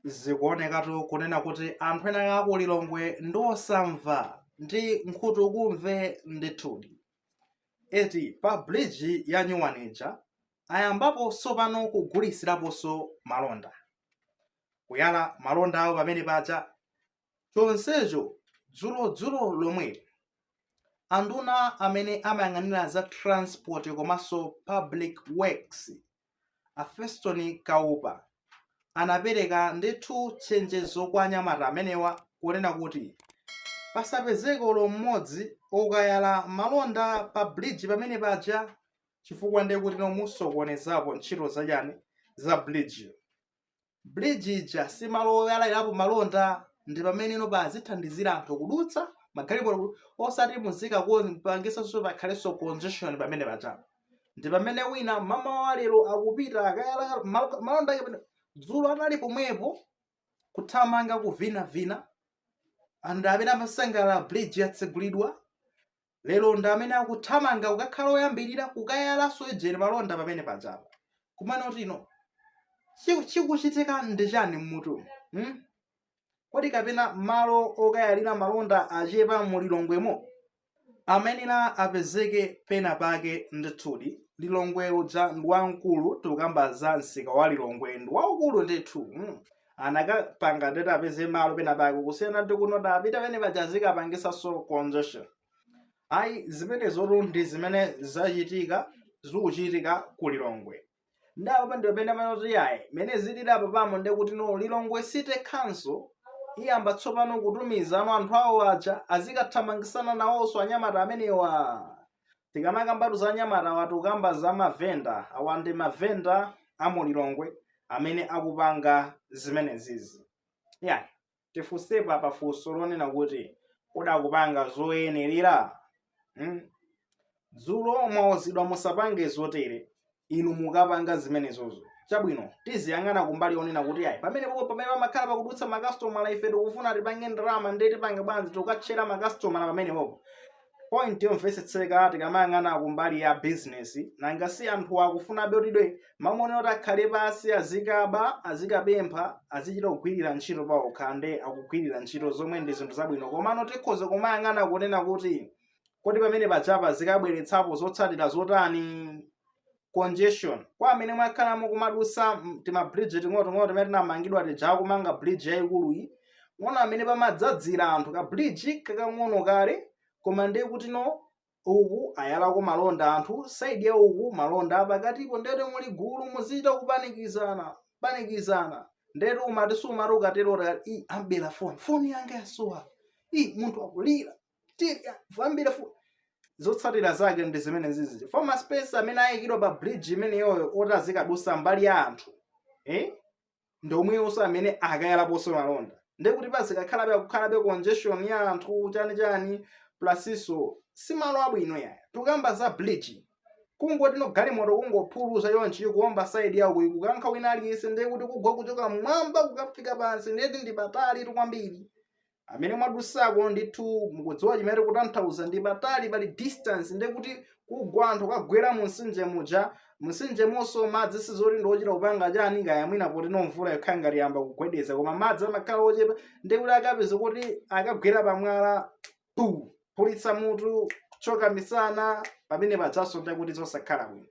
zikuonekatu kunena kuti anthu ena a ku lilongwe ndi osamva ndi nkhutukumve ndithudi eti pa bridge ya nyuwanija ayambapo tsopano kugulitsiraponso malonda kuyala malonda awo pamene paja chonsecho dzulo dzulo lomweli anduna amene amayang'anira za transport komanso public works a feston kaupa anapereka ndithu chenjezo kwa anyamata amenewa kunena kuti pasapezeke olo mmodzi okayala malonda pa bridge pamene paja chifukwa nde kuti no musokonezapo ntchito za chani za bridge bridge ija si malo oyalairapo malonda ndi pamene ino pa azithandizira anthu kudutsa magalimoto osati muzikapangisanso pakhalenso congestion pamene paja ndi pamene wina mmamawa lero akupita akayala mal- malonda ake pamene- dzulo anali pomwepo kuthamanga kuvinavina anthu amene amasangalala bridge yatsegulidwa lero ndi amene akuthamanga kukakhala oyambirira kukayalanso ujeni malonda pamene pajapa komano tino chiku- chikuchitika ndi chani mmutu hmm? kodi kapena malo okayalira malonda achepa mu lilongwemo amayenera apezeke pena pake ndithudi lilongwe uja ndi wamkulu tikukamba za msika wa lilongwe ndi waukulu ndithu mm. anakapanga ndithu apeze malo pena pake kusiyana ndi kunota apita pamene paja zikapangisanso congestion ayi zimenezotu ndi zimene zachitika zikuchitika ku lilongwe nde apo ndi pamene amanoti yayi mene zilili apa pano nde kuti no lilongwe city council iyamba tsopano kutumiza no anthu awo aja azikathamangisana nawonso anyamata amenewa tikamakambatu za anyamata awa tikukamba za mavenda awa ndi mavenda a mu lilongwe amene akupanga zimenezizi yayi tifunsepo apa funso lonena kuti kodi akupanga zoyenerera hmm? dzulo mwauzidwa musapange zotere inu mukapanga zimenezozo chabwino tiziyang'ana kumbali yonena kuti ayi pamene popo pamene pamakhala pakudutsa makasitomala ife tikufuna tipange ndalama ndiye tipange bwanji tikatchera makasitomala pamene popo point yomvetsetseka tikamayang'ana kumbali ya bizinesi nanga si anthu akufunabe kutidwe mamone kuti akhale pansi azikaba azikapempha azichita kugwirira ntchito paokha nde akugwirira ntchito zomwe ndi zinthu zabwino komano tikhoza kumayang'ana kunena kuti Kodi pamene pajapa zikabweretsapo zotsatira zotani? Congestion. Kwa amene mwakhala mukumadusa timabridge ting'onoting'ono timene tinamangidwa tija kumanga bridge yayikuluyi, muona mmene pamadzadzira anthu ka bridge kakang'ono kaja koma ndiye kuti no uku ayalako malonda anthu side ya uku malonda pakatipo ndete muli gulu muzichita kupanikizana panikizana ndete umati sumati ukatero andibera foni foni yanga yasowa i munthu akulira andibera foni zotsatira zake ndi zimene zizi former space amene ayikidwa pa bridge imeneyoyo oti azikadusa mbali ya anthu eh? ndi omweyonso amene akayalaponso malonda ndekuti pazikakhalabe kukhalabe congestion ya anthu chani chani plusinso si malo abwino yaya tukamba za bridge kungoti no galimoto kungophuluza yonchi kuomba side yawo kuyi kukankha wina aliyense ndekuti kugwa kuchoka mmwamba kukafika pansi ndeti ndi patali tu kwambiri amene mwadusako ndithu mukudziwa chimene ndikutanthauza ndi patali pali distance nde kuti kugwa anthu kagwera mumtsinje muja mumtsinjemonso madzi sizoti ndi ochita kupanga chani kaya mwina potino mvula yokhala ngati yamba kugwedeza koma madzi amakhala ochepa nde kuti akapezeka kuti akagwera pamwala phulitsa mutu thyoka misana pamene pajanso nde kuti zosakhala bwino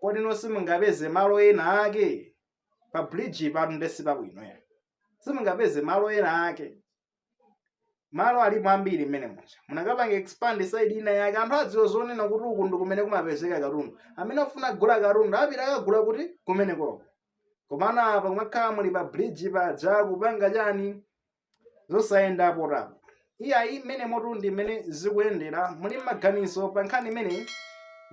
kodi no simungapeze malo ena ake pa bridge patu nde sipabwino ya simungapeze malo ena ake malo alipo ambiri mmene muja munakapanga expand side ina yake anthu adziwe zonena kuti uku ndi kumene kumapezeka katundu amene afuna kugula katundu apite akagule kuti kumenekoko komano apa kumakhala muli pa bridge pa dzakupanga chani zosayenda potapo iyayi mmene motu ndi mmene zikuyendera muli maganizo pa nkhani imeneyi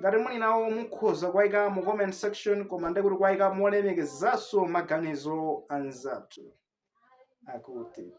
ngati muli nawo mukhoza kuwaika mu comment section koma nde kuti kuwaika molemekezanso maganizo anzathu akutitu